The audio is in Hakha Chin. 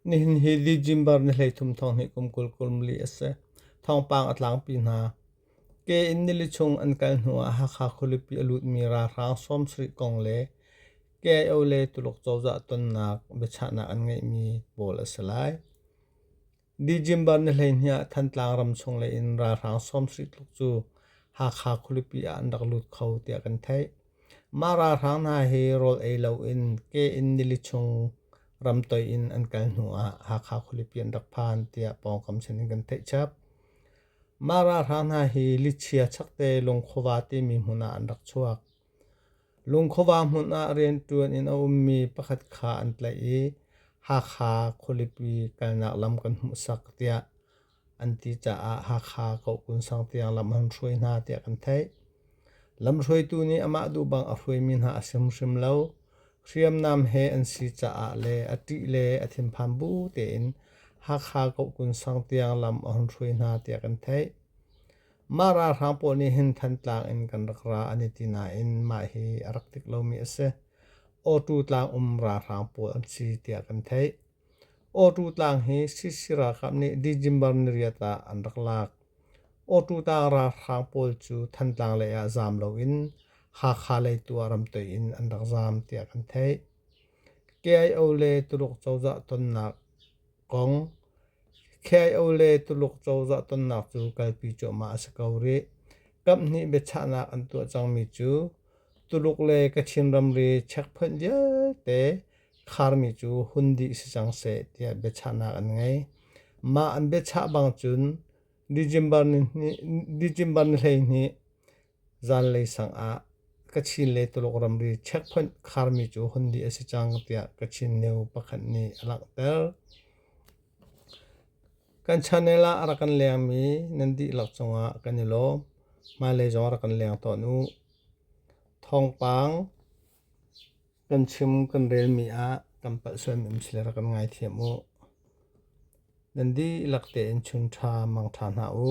Nihin hi Li Jimbar ni hleithum thawng hi kum kul kum li a si. Thawngpang a tlangpi hna. Ke in nili chung an kal hnu ah Hakha khualipi a lutmi ralhrang sawmsarih kong le KIO le Tuluk cozah tonnak biachahnak an ngeihmi pawl a si lai. December ni hleihnih ah Thantlang ramchung lei in ralhrang sawmsarih tluk cu Hakha khualipi ah an rak lut kho tiah kan theih. Mah ralhrang hna hi rawl ei loin ke in nili chung ramtoih in an kal hnu ah Hakha khualipi an rak phan tiah pawngkam sin in kan theih chap. Mah ralhrang hna hi lichia chakte lungkhuava timi hmun ah an rak chuak. Lungkhuava hmun ah rianṭuan in a ummi pakhat kha an tlaih i Hakha khualipi kalnak lam kan hmuhsak tiah an ti caah Hakha Kohkun sang tiang lam an hruai hna tiah kan theih. Lamhruaitu nih amah duh bang a hruaimi hna a si hrimhrim lo. Hriamnam he an si caah le a ṭih le a thinphang bu tein Hakha Kohkun sang tiang lam a hun hruai hna tiah kan theih. Mah ralhrang pawl nih hin Thantlang in kan rak ra an i ti nain mah hi a rak dik lomi a si. Awṭu tlang um ralhrang pawl an si tiah kan theih. Awṭu tlang hi CC ralkap nih December ni riat ah an rak lak. Awṭu tlang ralhrang pawl cu Thantlang lei ah zaam loin Hakha lei tu ah ramtoi in an rak zaam tiah kan theih. KIO le Tuluk cozah tonnak kong KIO le Tuluk cozah tonnak cu kalpi cuahmah a si ko rih. Kamh hnih biachahnak an tuah cangmi cu Tuluk le Kachin ramri checkpoint vialte kharmi cu hun dih si cang seh tiah biachahnak an ngei. Mah an biachah bang cun December ni, hnih, December ni hleihnih Zanlei sangah ka chin le Tuluk ramri checkpoint kharmi cu hun dih a si cang tiah Kachin new pakhat nih a langhter. Kan channel ah a rak kan lengmi nan dih lo cungah kan i lawm. Hmailei zong a rak kan leng tawn u. Thawngpang kan chim kan relmi ah kan palh sualmi um si le rak kan ngaithiam u. Nan dih lak tein chun ṭha mang ṭha hna u.